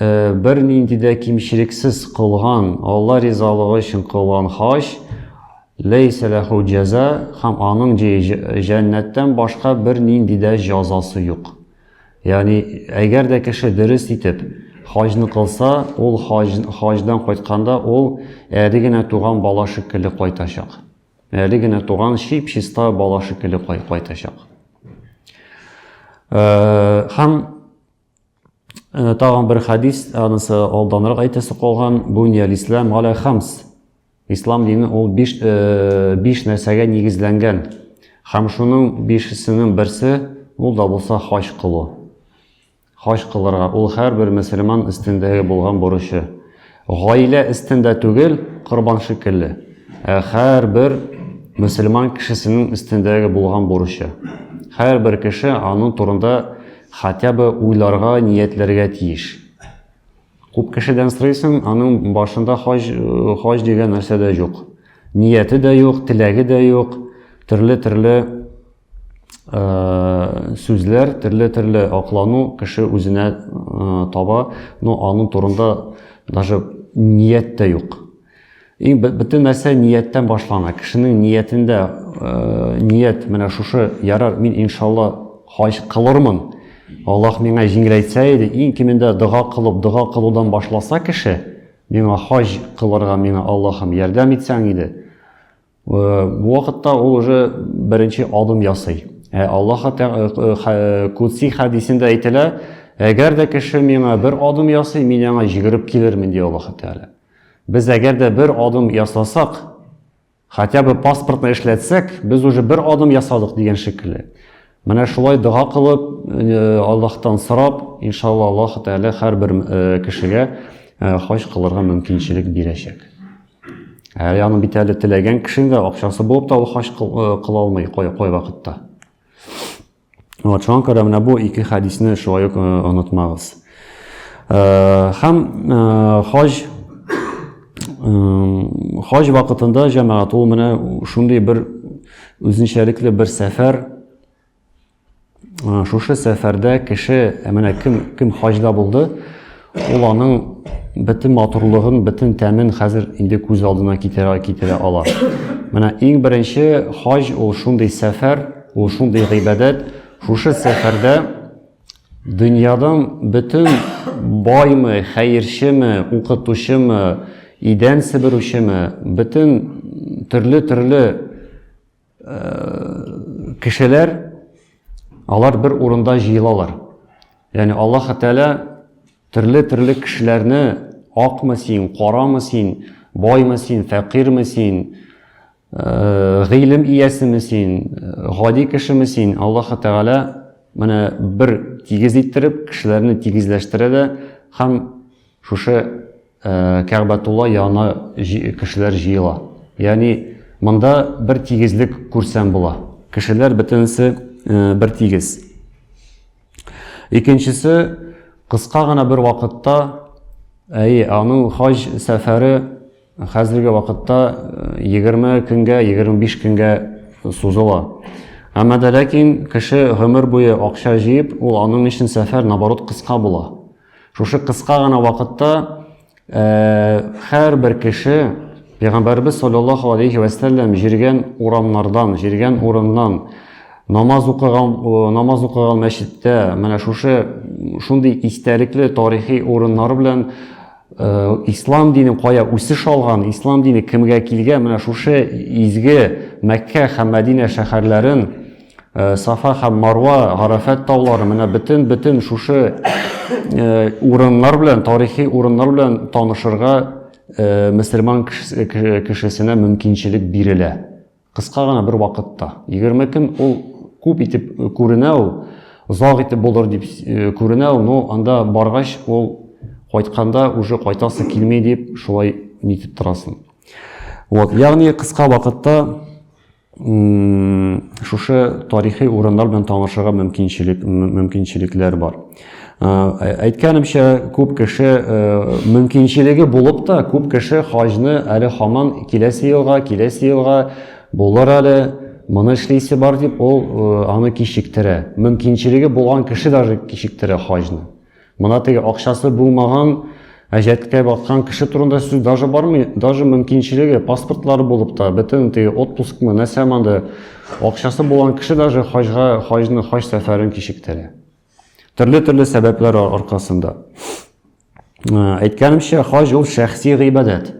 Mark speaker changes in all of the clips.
Speaker 1: Бернинди дә кимчелексез кылган, Алла ризалыгы өчен кылган хаҗ, ләйсә ләху җәза, һәм аның җәннәттән башка бернинди дә җазасы юк. Ягъни, әгәр дә кеше дөрес итеп хаҗны кылса, ул хаҗдан кайтканда ул әле генә туган бала шикелле кайтачак. Әле генә туган чип-чиста бала шикелле кайтачак. Һәм Э, тагын бер хадис, анысы алданрак әйтәсе калган, буни алислам галя хамс. Ислам дине ул биш, э, биш нәрсәгә нигезләнгән. Һәм шуның бишесенең берсе ул да булса хаҗ кылу. Хаҗ кылырга ул һәрбер мөселман өстендәге булган бурычы. Гаилә өстендә түгел, корбан шикелле, ә һәрбер мөселман кешесенең өстендә булган бурычы. Һәрбер кеше аның турында хотя бы уйларга, ниятләргә тиеш. Күп кешедән сорыйсың, аның башында хаҗ, хаҗ дигән нәрсә дә юк. Нияте дә юк, теләге дә юк, төрле-төрле Э, сүзләр төрле төрле аклану кеше үзенә э, таба но аның турында даже ният тә юк иң бөтен нәрсә нияттән башлана кешенең ниятендә э, ният менә шушы ярар мин иншалла хаҗ кылырмын аллах миңа җиңеләйтсә иде иң кимендә дога кылып дога кылудан башласа кеше миңа хаҗ кылырга миңа аллахым ярдәм итсәң иде Бу вакытта ул уже беренче адым ясый. Ә Аллаһ Кудси хәдисендә әйтелә, әгәр дә кеше миңа бер адым ясый, мин аңа җигереп килермен, ди Аллаһ Тәгалә. Без әгәр дә бер адым ясасак, хотя бы паспортны эшләтсәк, без уже бер адым ясадык дигән шикелле. Менә шулай дога кылып, э, Аллаһтан сорап, иншалла Аллаһ Тәгалә һәрбер э, кешегә э, хаҗ кылырга мөмкинчелек бирәчәк. Ә яны бит әле теләгән кешенең дә акчасы булып та ул хаҗ кыла алмый кай кай вакытта. Вот шуңа күрә менә бу ике хәдисне шулай ук онытмагыз. Һәм хаҗ хаҗ вакытында җәмәгать ул менә шундый бер үзенчәлекле бер сәфәр Шушы сәфәрдә кеше, менә кем, кем хаҗда булды, ул аның бөтен матурлыгын, бөтен тәмен хәзер инде күз алдына китерә, китерә ала. Менә иң беренче хаҗ ул шундый сәфәр, ул шундый гыйбадәт. Шушы сәфәрдә дөньядан бөтен баймы, хәерчеме, укытучымы, идән себерүчеме, бөтен төрле-төрле Э, кешеләр алар бер урында җыелалар яғни аллаһ тәғәлә төрле төрле кешеләрне акмы син карамы син баймы син фәкыйрме син э, гыйлем иясеме син гади кешеме син аллаһ тәғәлә менә бер тигез иттереп кешеләрне тигезләштерә дә һәм Шушы Кәгъбәтулла янына кешеләр җыела. Ягъни монда бер тигезлек күрсәм була. Кешеләр бөтенесе бер тигез. Икенчесе кыска гына бер вакытта, әйе, аның хаҗ сәфәре хәзерге вакытта 20 көнгә, 25 көнгә сузыла. Әмма дә ләкин кеше гомер буе акча җыеп, ул аның өчен сәфәр наоборот кыска була. Шушы кыска гына вакытта һәрбер кеше Пәйгамбәрбез саллаллаху алейхи ва саллям җиргән урамнардан, җиргән урыннан намаз укыган намаз укыган мәчеттә менә шушы шундый истәлекле тарихи урыннар белән Э, ислам динен кая үсеш алган ислам дине кемгә килгән менә шушы изге мәккә һәм мәдинә шәһәрләрен Э, сафа һәм марва гарәфәт таулары менә бөтен бөтен шушы э, урыннар белән тарихи урыннар белән танышырга э, мөселман кешесенә мөмкинчелек бирелә кыска гына бер вакытта егерме көн ул күп итеп күренә ул озак итеп булыр дип күренә ул но анда баргач ул кайтканда уже кайтасы килми дип шулай нитеп торасың вот ягъни кыска вакытта Шушы тарихи урыннар белән танышырга мөмкинчелек мөмкинчелекләр бар. Әйткәнемчә, күп кеше мөмкинчелеге булып та, күп кеше хаҗны әле хаман киләсе елга, киләсе елга булыр әле, моны эшлисе бар дип, ул аны кичектерә. Мөмкинчелеге булган кеше даже кичектерә хаҗны. Мына теге акчасы булмаган, әҗәткә баткан кеше турында сүз даже бармый, даже мөмкинчелеге, паспортлары булып та, бөтен теге отпускмы, нәрсә монда, акчасы булган кеше даже хаҗга, хаҗны, хаҗ сәфәрен кичектерә. Төрле-төрле сәбәпләр аркасында. Ә, әйткәнемчә, хаҗ ул шәхси гыйбадәт.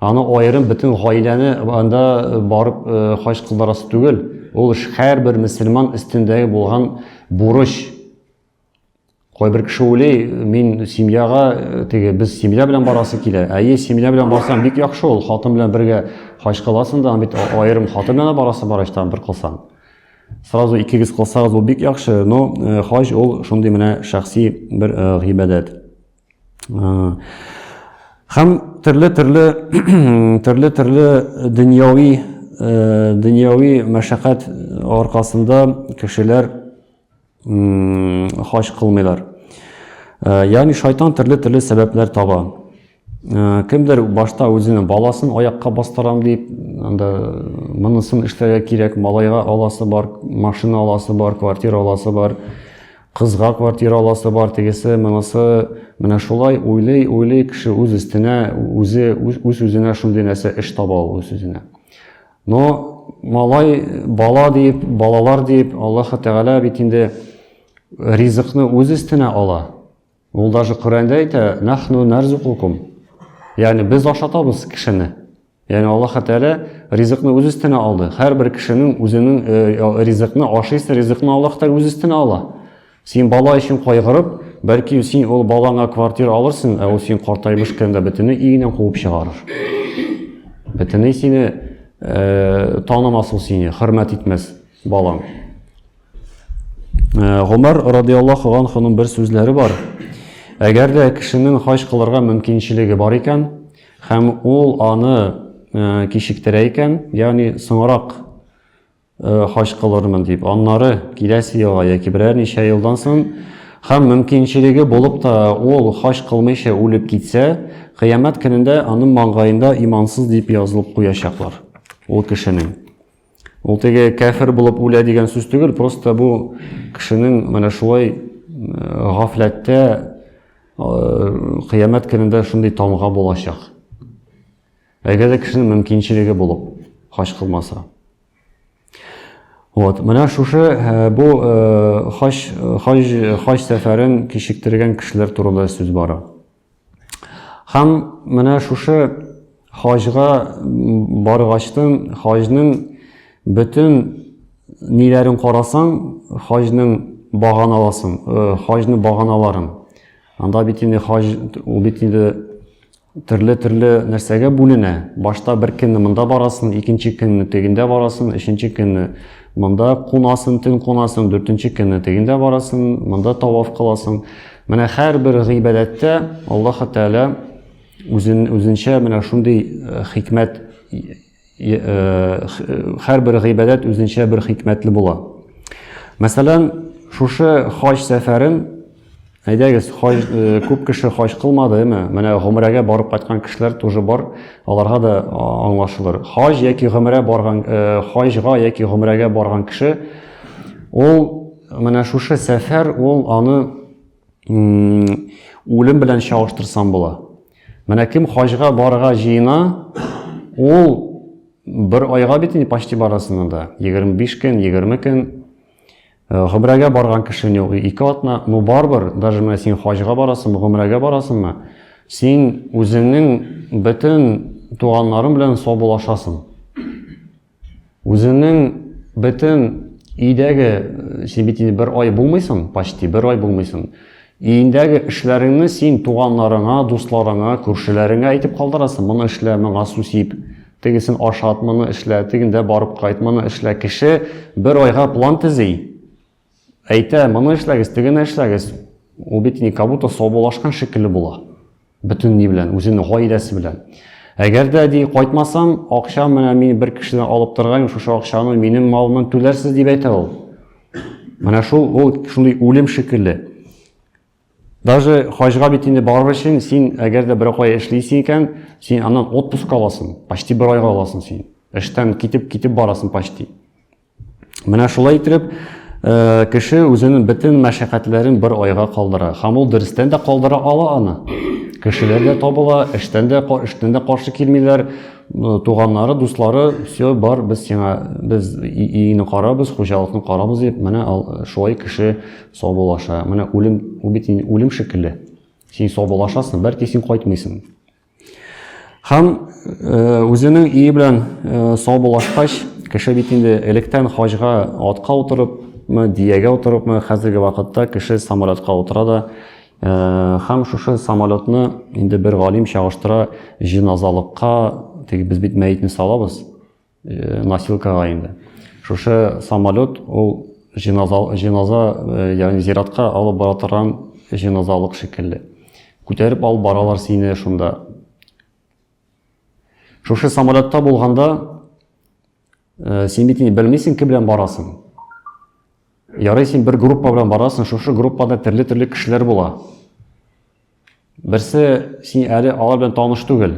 Speaker 1: Аны аерым бөтен гаиләне анда барып э, хаҗ кылдырасы түгел. Ул һәрбер мөселман өстендәге булган бурыч, Кайбер кеше уйлый, мин семьяга э, теге без семья белән барасы килә. Әйе, семья белән барсаң бик яхшы ул. Хатын белән бергә хаҗ кыласың да, бит аерым хатын белән барасы бар иштан бер кылсаң. Сразу икегез кылсагыз ул бик яхшы, но э, хаҗ ул шундый менә шәхси бер э, гыйбадәт. Хәм төрле-төрле төрле-төрле дөньяви дөньяви мәшәкать аркасында кешеләр хаҗ кылмыйлар. Э, ягъни шайтан төрле-төрле сәбәпләр таба. Э, кемдер башта үзенең баласын аякка бастырам дип, анда монысын эшләргә кирәк, малайга аласы бар, машина аласы бар, квартира аласы бар, кызга квартира аласы бар, тегесе, монысы, менә шулай уйлый, уйлый кеше үз өстенә, үзе үз-үзенә шундый нәрсә эш таба ул үз-үзенә. Но малай бала диеп, балалар диеп, Аллаһ Тәгалә бит инде ризыкны үз өстенә ала. Ул даже Коръәндә әйтә, нахну нарзукукум. Ягъни без ашатабыз кешене. Ягъни Аллаһ Тәгалә ризыкны үз өстенә алды. Һәрбер кешенең үзенең э, ризыкны ашыйсы ризыкны Аллаһ Тәгалә үз өстенә ала. Син бала өчен кайгырып, бәлки син ул балаңа квартира алырсың, ә ул син картайып бешкәндә бөтенләй өеннән куып чыгарыр. Бөтенләй сине э, танымас ул сине, хөрмәт итмәс балаң. Э, Гомәр радиаллаху анхуның бер сүзләре бар. Әгәр дә кешенең хаҗ кылырга мөмкинчелеге бар икән, һәм ул аны э, кичектерә икән, ягъни соңрак Э, хаҗ кылырмын дип аннары киләсе елга яки берәр ничә елдан соң һәм мөмкинчелеге булып та ул хаҗ кылмыйча үлеп китсә кыямәт көнендә аның маңгаенда имансыз дип язылып куячаклар ул кешенең ул теге кәфер булып үлә дигән сүз түгел просто бу кешенең менә шулай э, гафләттә э, кыямәт көнендә шундый тамга булачак Әгәр дә кешенең мөмкинчелеге булып хаҗ кылмаса. Вот, менә шушы э, бу э, хаҗ хаҗ хаҗ сәфәрен кичектергән кешеләр турында сүз бара. Һәм менә шушы хаҗга баргачтын хаҗның бөтен ниләрен карасаң, хаҗның баганаласын, э, хаҗның баганаларын Анда бит инде хаҗ ул бит инде төрле-төрле нәрсәгә бүленә. Башта бер көнне монда барасың, икенче көнне тегендә барасың, өченче көнне монда кунасың, төн кунасың, дүртенче көнне тегендә барасың, монда таваф кыласың. Менә һәрбер гыйбадәттә Аллаһ Тәгалә үзен үзенчә менә шундый э, хикмәт Һәрбер гыйбадәт үзенчә бер хикмәтле була. Мәсәлән, шушы хаҗ сәфәрен әйдәгез, хаҗ күп кеше хаҗ кылмады, әме, менә гомрәгә барып кайткан кешеләр тоже бар, аларга да аңлашылыр. Хаҗ яки гомрә барган хаҗга яки гомрәгә барган кеше ул менә шушы сәфәр ул аны Үлем белән чагыштырсам була. Менә кем хаҗга барырга җыена, ул бер айга бит инде почти барасында да. 25 көн, 20 көн гомрәгә барган кешене ике атна, ну барбер, даже менә син хаҗга барасың, гомрәгә барасыңмы, син үзеңнең бөтен туганнарың белән саубуллашасың. Үзеңнең бөтен өйдәге, син бит инде бер ай булмыйсың, почти бер ай булмыйсың. Өендәге эшләреңне син туганнарыңа, дусларыңа, күршеләреңә әйтеп калдырасың. Моны эшлә, моңа су сип, тегесен ашат, моны эшлә, тегендә барып кайт, моны эшлә. Кеше бер айга план төзи. Әйтә, моны эшләгез, тегене эшләгез. Ул бит ни, как будто саубулашкан шикелле була. Бөтен ни белән, үзенең гаиләсе белән. Әгәр дә ди кайтмасам, акча менә мин бер кешедән алып торган, шушы акчаны минем малымнан түләрсез дип әйтә ул. Менә шул ул шундый үлем шикелле. Даже хаҗга бит инде барыр өчен син әгәр дә бер кая эшлисең икән, син аннан отпуск аласың, почти бер айга аласың син. Эштән китеп китеп барасың почти. Менә шулай итеп, э, кеше үзенең бөтен мәшәкатьләрен бер айга калдыра. Һәм ул дөрестән дә калдыра ала аны. Кешеләр дә табыла, эштән дә эштән дә каршы килмиләр. Э, туганнары, дуслары, все бар, без сиңа без иене карабыз, хуҗалыкны карабыз дип, менә э, шулай кеше саубулаша. Менә үлем, ул бит үлем шикелле. Син саубулашасың, бәлки син кайтмыйсың. Һәм үзенең ие белән саубуллашкач, кеше бит инде электән хаҗга атка утырыпмы, диягә утырыпмы, хәзерге вакытта кеше самолетка утыра да, һәм шушы самолетны инде бер галим чагыштыра җиназалыкка, теге без бит мәетне салабыз, э, носилкага инде. Шушы самолет ул җиназа, җиназа э, ягъни зиратка алып бара торган җиназалык шикелле. Күтәреп алып баралар сине шунда. Шушы самолетта булганда э, син бит инде белмисең кем белән барасың. Ярый син бер группа белән барасың, шушы группада төрле-төрле кешеләр була. Берсе, син әле алар белән таныш түгел.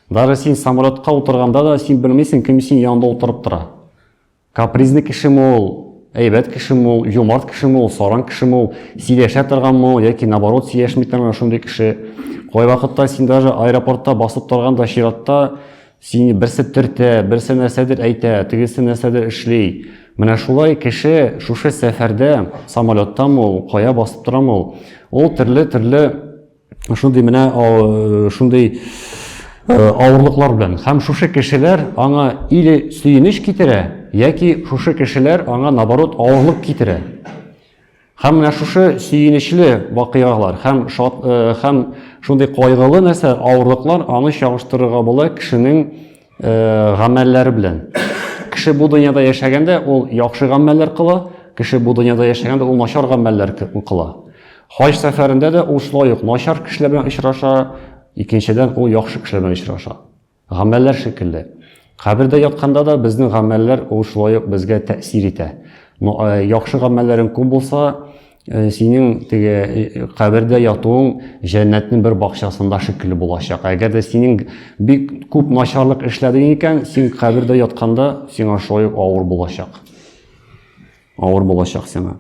Speaker 1: Даже син самолетка утырганда да син белмисең, кем син янында утырып тора. Капризный кешеме ул, әйбәт кешеме ул, юмарт кешеме ул, саран кешеме ул, сөйләшә торганмы ул, яки наоборот сөйләшми торган шундый кеше. Кайвакытта син даже аэропортта басып торганда чиратта Сине берсе төртә, берсе нәрсәдер әйтә, тегесе нәрсәдер эшли. Менә шулай кеше шушы сәфәрдә самолеттамы ул, кая басып торамы ул, ул төрле-төрле шундый менә шундый авырлыклар белән. Һәм шушы кешеләр аңа или сөенеч китерә, яки шушы кешеләр аңа наоборот авырлык китерә. Һәм менә шушы сөенечле вакыйгалар һәм шат, э, һәм шундый кайгылы нәрсә, авырлыклар аны чагыштырырга була кешенең э, гамәлләре белән. Кеше бу дөньяда яшәгәндә ул яхшы гамәлләр кыла, кеше бу дөньяда яшәгәндә ул начар гамәлләр кыла. Хаҗ сәфәрендә дә ул шулай ук начар кешеләр белән очраша, икенчедән ул яхшы кешеләр белән очраша. Гамәлләр шикелле. Кабердә ятканда да безнең гамәлләр ул шулай ук безгә тәэсир итә. Ну, э, яхшы гамәлләрең күп булса, э, синең теге э, кабердә ятуың җәннәтнең бер бакчасында шикелле булачак. Әгәр дә синең бик күп начарлык эшләдең икән, син кабердә ятканда сиңа шулай ук авыр булачак. Авыр булачак сиңа.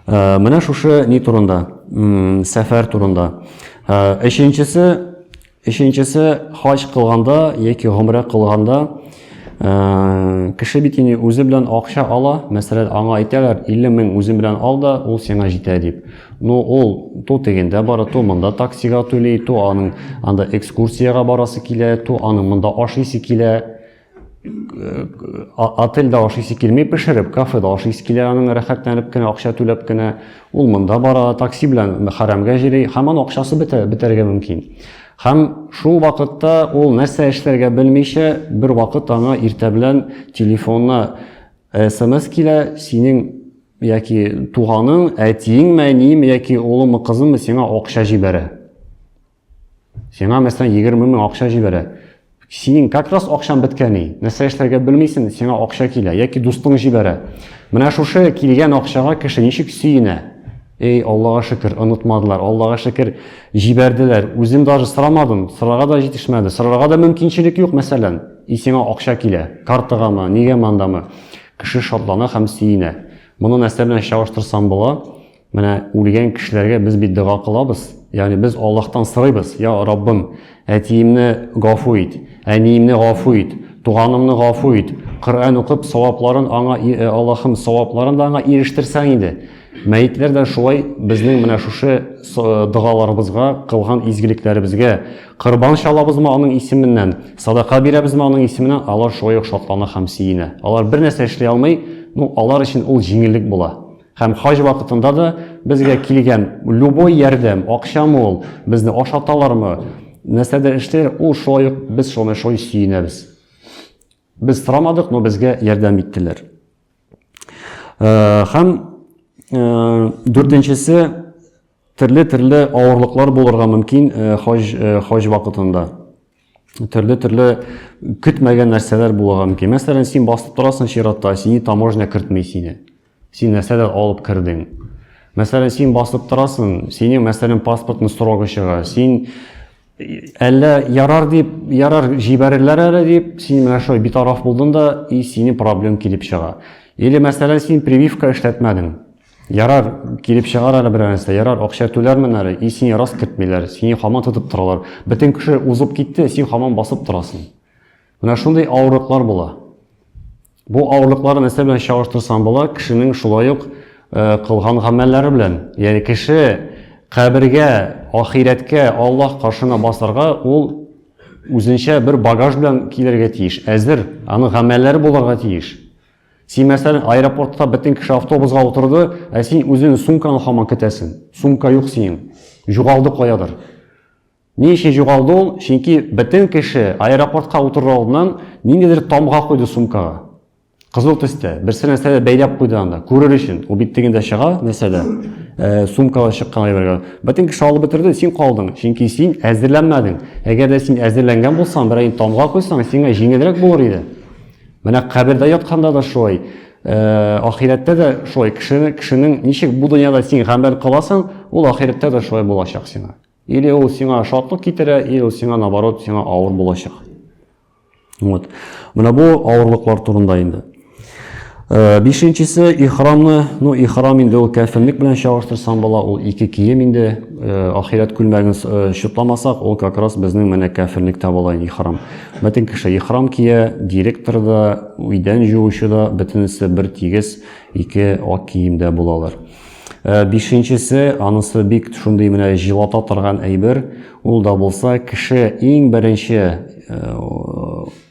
Speaker 1: Ә, менә шушы ни турында, сәфәр турында. Ә, өченчесе, өченчесе хаҗ кылганда яки гомрә кылганда ә, кеше бит инде үзе белән акча ала, мәсәлән, аңа әйтәләр, 50 мең үзең белән ал да, ул сиңа җитә дип. Ну, ул ту тегендә бара, ту монда таксига түли, ту аның анда экскурсиягә барасы килә, ту аның монда ашыйсы килә. отельдә ашыйсы килми пешереп, кафеда ашыйсы килә аның рәхәтләнеп кенә, акча түләп кенә. Ул монда бара, такси белән хәрәмгә җири, һәм аның акчасы бетә, бетәргә мөмкин. Һәм шул вакытта ул нәрсә эшләргә белмичә, бер вакыт аңа иртә белән телефонына смс килә, синең яки туганың, әтиеңме, әниеме яки улымы, кызымы сиңа акча җибәрә. Сиңа мәсәлән 20 мең акча җибәрә. Синең как раз акчаң беткәни. Нәрсә эшләргә белмисең, сиңа акча килә яки дустың җибәрә. Менә шушы килгән акчага кеше ничек сөенә? Эй, Аллага шөкер, онытмадылар. Аллага шөкер, җибәрделәр. Үзем даже сорамадым, сорарга да җитешмәде. Сорарга да мөмкинчелек юк, мәсәлән. И сиңа акча килә. Картагамы, нигә мандамы? Кеше шатлана һәм сөенә. Моны нәрсә белән чагыштырсам була? Менә үлгән кешеләргә без бит дога кылабыз. Ягъни без Аллаһтан сорыйбыз, "Я Раббым, әтиемне гафу ит, әниемне гафу ит, туганымны гафу ит. Коръән укып, савапларын аңа э, Аллаһым, савапларын да аңа ирештирсәң инде." Мәетләр дә шулай безнең менә шушы э, догаларыбызга, кылган изгелекләребезгә кырбан чалабызмы аның исеменнән, садака бирәбезме аның исеменнән, алар шулай ук шатлана һәм сөенә. Алар бер нәрсә эшли алмый, ну алар өчен ул җиңеллек була. Һәм хаҗ вакытында да безгә килгән любой ярдәм, акчамы ул, безне ашаталармы, нәрсәдер эшләр, ул шулай ук без шуны шулай сөенәбез. Без сорамадык, но безгә ярдәм иттеләр. Һәм дүртенчесе Төрле-төрле авырлыклар булырга мөмкин хаҗ хаҗ вакытында. Төрле-төрле көтмәгән нәрсәләр булырга мөмкин. Мәсәлән, син басып торасың чиратта, сине таможня кертми сине. Син нәрсәдер алып кердең. Мәсәлән, син басып торасың, синең мәсәлән паспортны срогы чыга. Син әллә ярар дип ярар җибәрерләр әле дип син менә шулай битараф булдың да и сине проблем килеп чыга или мәсәлән син прививка эшләтмәдең Ярар, килеп чыгар әле берәр нәрсә. Ярар, акча түләрмен әле. И сине рас кертмиләр, сине хаман тотып торалар. Бөтен кеше узып китте, син хаман басып торасың. Менә шундый авырлыклар була. Бу авырлыклар нәрсә белән чагыштырсаң була, кешенең шулай ук э, кылган гамәлләре белән. Ягъни кеше кабергә, ахирәткә, Аллаһ каршына басарга ул үзенчә бер багаж белән килергә тиеш. Әзер, аның гамәлләре булырга тиеш. Син, мәсәлән, аэропортта бөтен кеше автобусга утырды, ә син үзең сумканы хаман көтәсең. Сумка юк синең. Югалды каядыр. Ни өчен югалды ул? Чөнки бөтен кеше аэропортка утырыр алдыннан ниндидер тамга куйды сумкага. Кызыл төстә, берсе нәрсәдә бәйләп куйды анда, күрер өчен. Ул бит тегендә чыга, нәрсәдә? Э, сумкада чыккан әйбергә. Бөтен кеше алып бетерде, син калдың, чөнки син әзерләнмәдең. Әгәр дә син әзерләнгән булсаң, берәй тамга куйсаң, сиңа җиңелрәк булыр иде. Менә кабердә ятканда да шулай, э, ахирәттә дә шулай, кешене, кешенең ничек бу дөньяда син гамәл кыласың, ул ахирәттә дә шулай булачак сиңа. Или ул сиңа шатлык китерә, или ул сиңа наоборот, сиңа авыр булачак. Вот. Менә бу авырлыклар турында инде. Э, бишенчесе ихрамны, ну ихрам инде ул кәфенлек белән чагыштырсаң була, ул ике кием инде, э, ахирәт күлмәген э, чутламасак, ул как раз безнең менә кәфенлектә була ихрам. Бөтен кеше ихрам кия, директор да, өйдән җуучы да, бөтенесе бер тигез ике ак киемдә булалар. Э, бишенчесе анысы бик шундый менә җылата торган әйбер ул да булса кеше иң беренче э,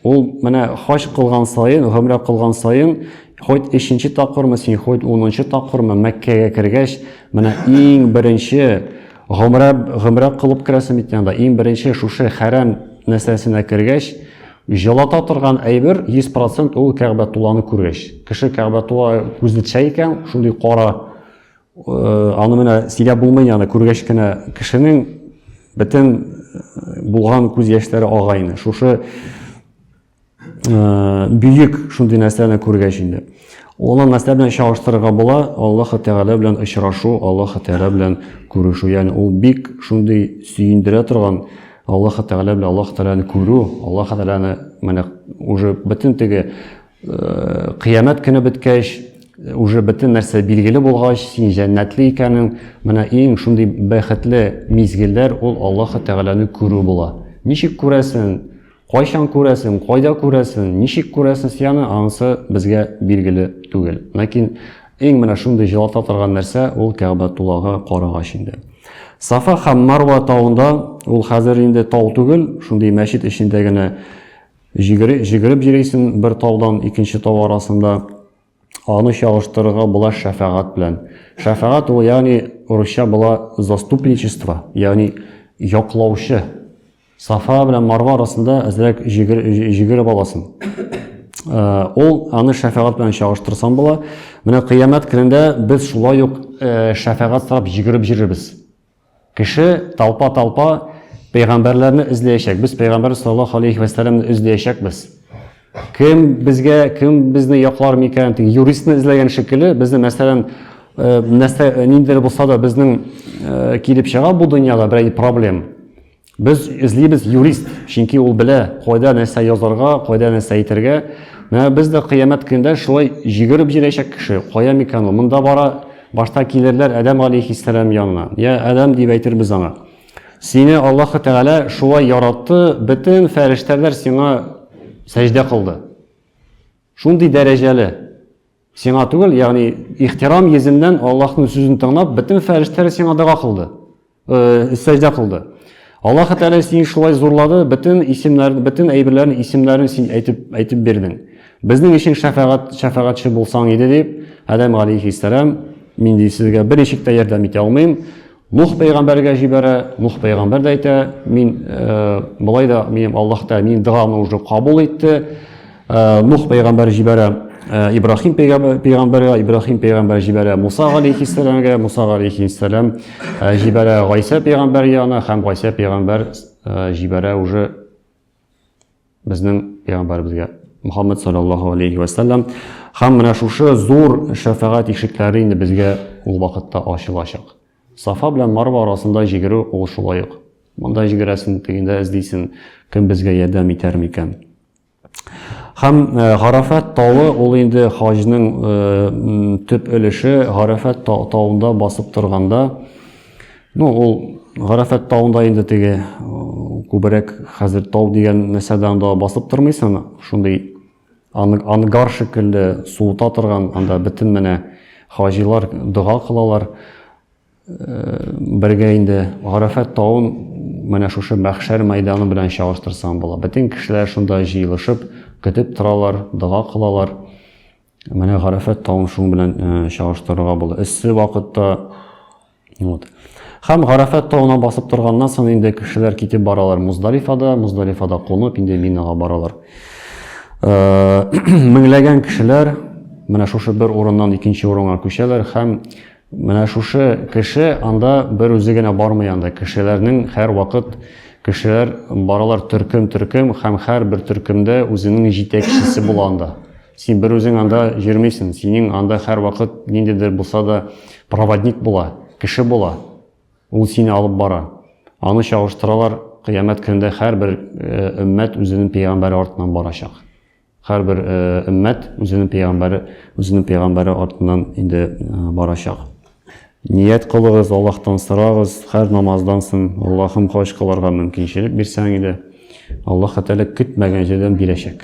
Speaker 1: ул менә хаҗ кылган саен гомрә кылган саен хоть өченче тапкырмы син хоть унынчы тапкырмы мәккәгә кергәч менә иң беренче Гомрә гомрә кылып керәсем бит янда. Иң беренче шушы хәрәм нәрсәсенә кергәч, җылата торган әйбер 100% ул Кәгъбәтулланы күргәч. Кеше Кәгъбәтулла күзне төшә икән, шундый кара э, аны менә сөйләп булмый яны күргәч кенә кешенең бөтен э, булган күз яшьләре ага инде. Шушы ә, бөек шундый нәрсәне күргәч инде. Олы нәрсә белән чагыштырырга була, Аллаһы Тәгалә белән очрашу, Аллаһы Тәгалә белән күрешү. Ягъни ул бик шундый сөендерә торган Аллаһы Тәгалә белән Аллаһы Тәгаләне күрү, Аллаһы Тәгаләне менә уже бөтен теге ә, кыямәт көне беткәч, уже бөтен нәрсә билгеле булгач, син җәннәтле икәнең, менә иң шундый бәхетле мизгелләр ул Аллаһы Тәгаләне күрү була. Ничек күрәсең? Кайчан күрәсен, кайда күрәсен, ничек күрәсен сияны, анысы безгә билгеле түгел. Ләкин иң менә шундый җылата торган нәрсә ул Кәгъбә тулагы карагач инде. Сафа һәм Марва тавында, ул хәзер инде тау түгел, шундый мәчет эчендә генә җигереп җигереп йөрисең бер таудан икенче тау арасында. Аны чагыштырырга була шәфәгать белән. Шәфәгать ул, ягъни урысча була заступничество, ягъни яклаучы. Сафа белән Марва арасында әзрәк җигереп аласың. Ул аны шәфәгать белән чагыштырсаң була. Менә кыямәт көнендә без шулай ук шәфәгать сорап җигереп йөрербез. Кеше талпа-талпа пәйгамбәрләрне эзләячәк. Без пәйгамбәр саллаллаһу алейхи ва сәлламне эзләячәкбез. Кем безгә, кем безне яклар микән? Тик юристны эзләгән шикелле, безне мәсәлән, нәрсә ниндидер булса да безнең килеп чыга бу дөньяда берәй проблем. Без эзлибез юрист, чөнки ул белә, кайда нәрсә язарга, кайда нәрсә әйтергә. Менә без дә кыямәт көндә шулай җигереп җирәчәк кеше. Кая микан ул? Монда бара, башта килерләр Адәм алейхиссәлам янына. Я Адәм дип әйтербез аңа. Сине Аллаһы Тәгалә шулай яратты, бөтен фәрештәләр сиңа сәҗдә кылды. Шундый дәрәҗәле. Сиңа түгел, ягъни ихтирам йөзеннән Аллаһның сүзен тыңлап, бөтен фәрештәләр сиңа дога кылды. Э, сәҗдә кылды. Аллаһ Тәгалә сине шулай зурлады, бөтен исемнәр, бөтен әйберләрнең исемнәрен син әйтеп әйтеп бирдең. Безнең өчен шәфәгать шәфәгатьче булсаң иде дип, Адәм алейхиссалам, мин ди сезгә бер ишектә ярдәм итә алмыйм. Нух пәйгамбәргә җибәрә, Нух пәйгамбәр дә әйтә, мин э, болай да минем Аллаһ та минем догамны уже кабул итте. Э, Нух пәйгамбәр җибәрә э, Ибрахим пәйгамбәргә, Ибрахим пәйгамбәр җибәрә Муса алейхиссәламгә, Муса алейхиссәлам э, җибәрә Гайса пәйгамбәр янына һәм Гайса пәйгамбәр э, җибәрә уже Безнең пәйгамбәребезгә Мухаммад саллаллаһу алейхи ва саллям һәм менә шушы зур шәфәгать ишекләре инде безгә ул вакытта ачылачак. Сафа белән Марва арасында җигерү ул шулай ук. Монда җигерәсен, тегендә эзлисен, кем безгә ярдәм итәр микән? Һәм э, Гарафат тавы ул инде хаҗның э, төп өлеше. Гарафат тавында басып торганда Ну, ул Гарәфәт тауында инде теге күбрәк хәзер тау дигән нәрсәдә анда басып тормыйсың, шундый ангар шикелле суыта торган, анда бөтен менә хаҗилар дога кылалар. Э, бергә инде Гарәфәт тавын менә шушы мәхшәр мәйданы белән чагыштырсаң була. Бөтен кешеләр шунда җыелышып, көтеп торалар, дога кылалар. Менә Гарәфәт тавын шуның белән э, чагыштырырга була. Эссе вакытта Вот. Хәм Гарәфәт тауына басып торганнан соң инде кешеләр китеп баралар Муздалифада, Муздалифада кунып инде Минага баралар. Э, меңләгән кешеләр менә шушы бер урыннан икенче урынга күчәләр һәм менә шушы кеше анда бер үзе генә бармый анда кешеләрнең һәр вакыт кешеләр баралар төркем төркем һәм һәр бер төркемдә үзенең җитәкчесе була анда Син бер үзең анда йөрмисең, синең анда һәрвакыт ниндидер булса да проводник була, кеше була. Ул сине алып бара. Аны чагыштыралар, кыямәт көнендә һәрбер өммәт үзенең пәйгамбәре артыннан барачак. Һәрбер өммәт үзенең пәйгамбәре, үзенең пәйгамбәре артыннан инде барачак. Ният кылыгыз, Аллаһтан сорагыз, һәр намаздан соң, Аллаһым, хаҗ кылырга мөмкинчелек бирсәң иде. Аллаһ Тәгалә көтмәгән җирдән бирәчәк.